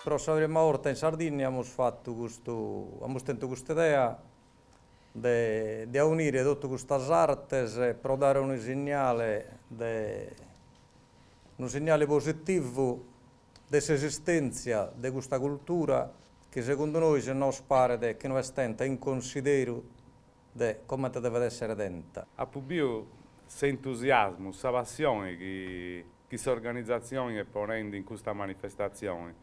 Pro sa prima vorta in Sardinnia amus fatu custu, amus tentu custa idea de de aunire totu custas artes pro dare unu signale de, unu signale positivu de s'esistenzia de custa cultura chi segundu nois nos paret chi no est tenta in consideru de comente devet èssere tenta. Apu biu s'entusiasmu, sa passione chi s'organizatzioni est ponendi in custa manifestatzioni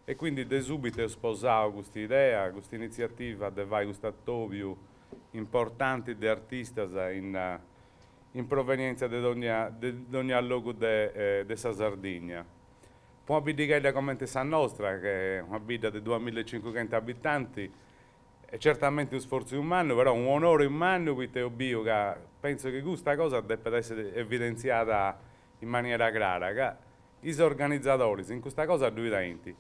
e quindi de subitu eus sposau custa idea, custa initziativa de fai custu atòbiu importanti de artistas in provenièntzia de dònnia de dònnia logu de sa Sardigna. Po una biddighedda comente sa nostra, ch'est una bidda de duamilla e cincuxentus abitanti, Est certamenti unu sfortziu mannu, però unu onori mannu poita eus biu ca pentzu chi custa cosa depet essi evidentziada in maniera crara, ca is organizadoris in custa cosa ddui tenint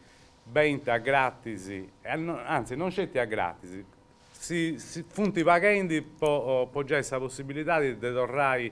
benint a gratis, anzi non sceti a gratis, si funt paghendi po giai sa possibilidadi de torrai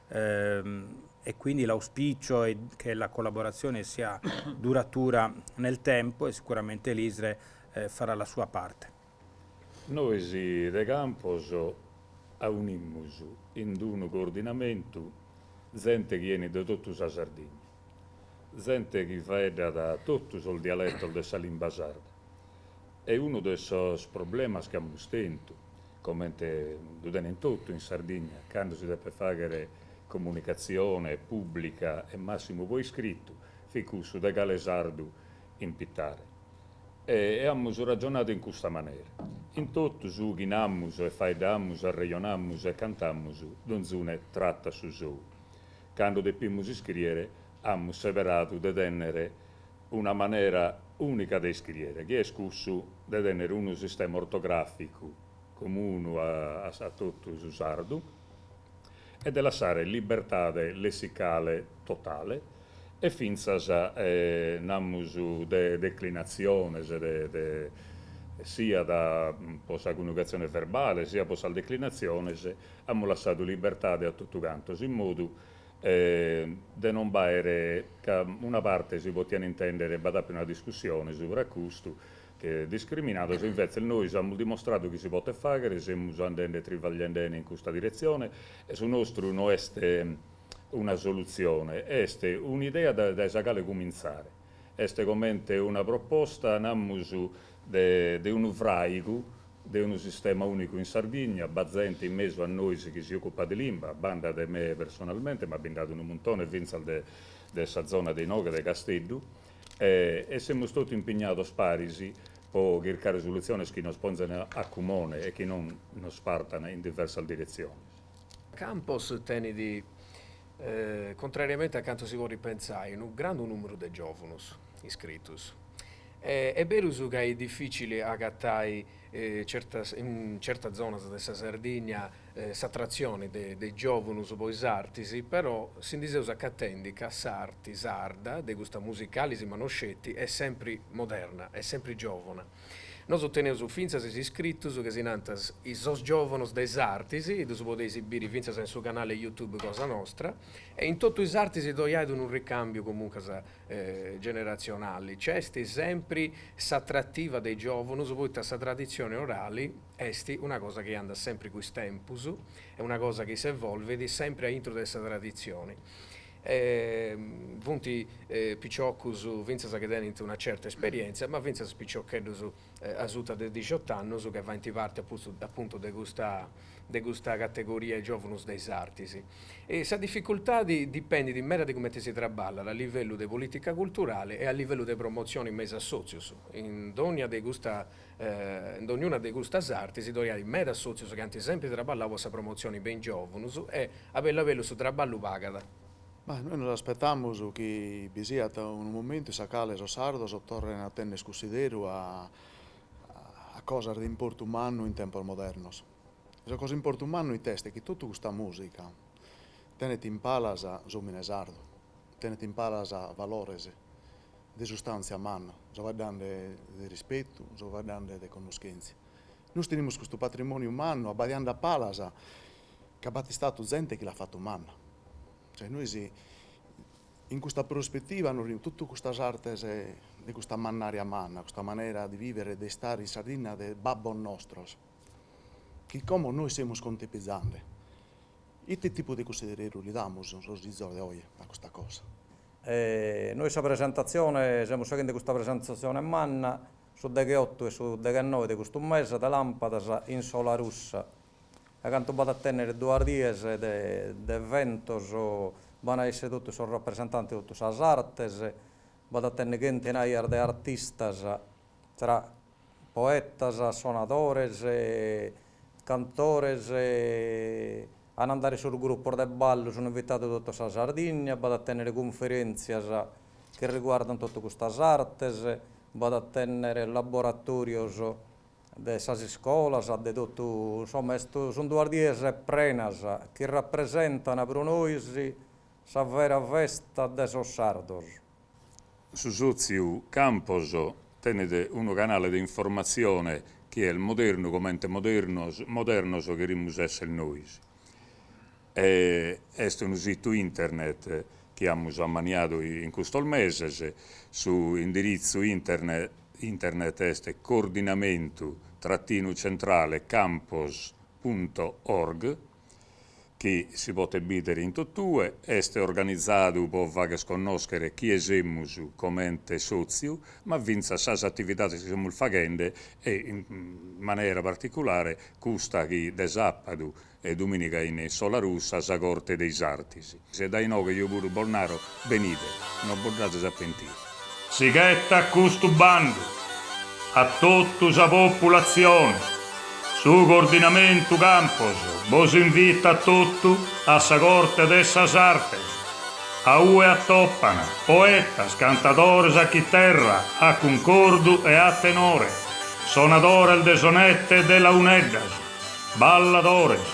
e quindi l'auspicio è che la collaborazione sia duratura nel tempo e sicuramente l'ISRE farà la sua parte. Nois de Campos aunimus in d'unu coordinamentu zente chi 'enit de totu sa Sardigna, zente chi faeddat totu sos dialetos de sa limba sarda, E unu de sos problemas chi amus tentu, comente ddu tenent totu in Sardigna, cando si depet fàghere comunicatzione pùblica e màssimu pro iscritu, fit cussu de cale sardu impitare. E amus ragionadu in custa manera, in totu su chi namus e faeddamus, arrejonamus e cantamus, donzune tratat su sou. Cando depimus iscrìere amus seberadu de tènnere una manera ùnica de iscriere, chi est cussu de tènnere unu sistema ortogràficu comunu a totu su sardu e de lassare libertade lessicale totale e fintzas, namus, de declinatziones, siat po sa coniugatzione verbale siat po sas declinatziones, amus lassadu libertade a totu cantos in modu e de non b'àere, ca una parte si potiat intèndere b'at àpiu una discussione subra a custu, che discriminados, invetze nois amus dimostradu chi si potet fàghere, semus andende trivagliendene in custa diretzione e su nostru no est una solutzione, est un'idea dae sa cale cumintzare, est comente una proposta, namus, de unu fràigu, de unu sistema ùnicu in Sardigna, b'at zente in mesu a nois chi si ocupat de limba, banda de me personalmente, ma bi nd'at unu muntone fintzas de de sa zona de inoghe de Casteddu, e semus totu impignados paris po chircare solutziones chi nos ponzan a cumone e chi non nos partan in diversas diretziones. Campos tenit, contrariamente a cantu si podit pentzai, unu grandu nùmeru de giòvunus. iscritus. Est berus ca est dificili agatai in certas zonas de sa Sardigna s'atratzioni de giovunus po is artis, però si ndi seus acatendi ca s'arti sarda, de custa musicali si ma no sceti, est sempri moderna, est sempri giovuna. Nosu teneus fintzas is iscritus ca si nant sos giovanos de is artis, ddus podeis biri fintzas in su canali Youtube cosa nostra, e in totu is artis ddoi ait unu ricambiu comuncas generatzionali, nc'est sempri s'atrativa de is giòvunus poita sa traditzioni orali est una cosa chi andat sempri cun is tempus, est una cosa chi s'evolvit sempri aintru de sa traditzioni e funt piciocus fintzas chi tenint una certa esperièntzia ma fintzas piciocheddus asuta de dixiot'annus chi faint parti appuntu de custa de custa categoria giòvunus de is artis. E sa dificultadi dipendit meda de cumenti si traballat a livellu de polìtica culturale e a livellu de promotzioni me is assòtzios. In dònnia de custa in dognuna de custas artis ddoi ait meda assòtzios chi ant sempri traballau po sa promotzioni me is giòvunus e a bellu a bellu su traballu pagat. Ma nois nos aspetamus chi bi siat unu momentu in sa cale sos sardos torren a tenner cussideru a a cosas de importu mannu in tempos modernos. E sa cosa 'e importu mannu ite est chi totu custa musica tenet in palas s'omine sardu, tenet in palas valores de sustantzia manna, so faeddande de rispetu, so faeddande de connoschentzia. Nois tenimus custu patrimoniu mannu abbadiande a palas ca b'at istadu zente chi l'at fatu manna. Cioè nois in custa prospetiva nois in totu custas artes de custa mannària manna, custa manera de vivere e de istare in Sardigna de babbos nostros, chi como nois semus contipizende, ite tipu de cussideru li damus sos fizos de oe a custa cosa? E nois sa presentatzione, semus faghende custa presentatzione manna, su degheotu e su deghenoe de custu mese de làmpadas in Solarussa A cantu b'at a tènnere duas dies de eventos, b'an a èssere totu sos rapresentantes de totu sas artes, b'at a tènnere chentenaias de artistas, tra poetas, sonadores, cantores, an a andare sos grupos de ballu, sun invitados de tota sa Sardigna, b'at a tènnere cunferèntzias chi riguardan totu custas artes, b'at a tènnere laboratòrios de sas iscolas, de totu, insoma, est, sun duas dies prenas chi rapresentana pro nois sa vera festa de sos sardos. Su sòtziu Campos tenet unu canale de informatzione chi est modernu comente modernos cherimus èssere nois. Est unu situ internet chi amus ammaniadu in custos meses, su indiritzu internet est coordinamentu trattinu centrale campos punto org, chi si potet bìdere in totue, est organizadu pro fagher connòschere chie semus comente sòtziu, ma fintzas sas atividades chi semus faghende e in manera particulare custa chi de sàbadu e dumìniga in Solarussa sa Corte de is Artis. E dae inoghe eo puru bos naro, benide, no bos nd'ades a pentire. Si ghetat custu bandu, a totu sa populatzione, su Coordinamentu Campos bos invitat totu a sa Corte de sas Artes, a ue atopan poetas, cantadores a chiterra, a cuncordu e a tenore, sonadores de sonette e de launeddas, Balladores.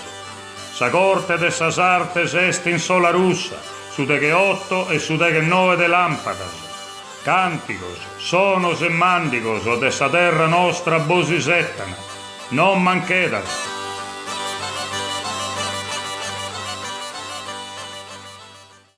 Sa corte de sas artes est in Solarussa, su deghe oto e su deghe noe de lampadas, cantigos, sonos e mandigos de sa terra nostra bos isettan, non manchedas.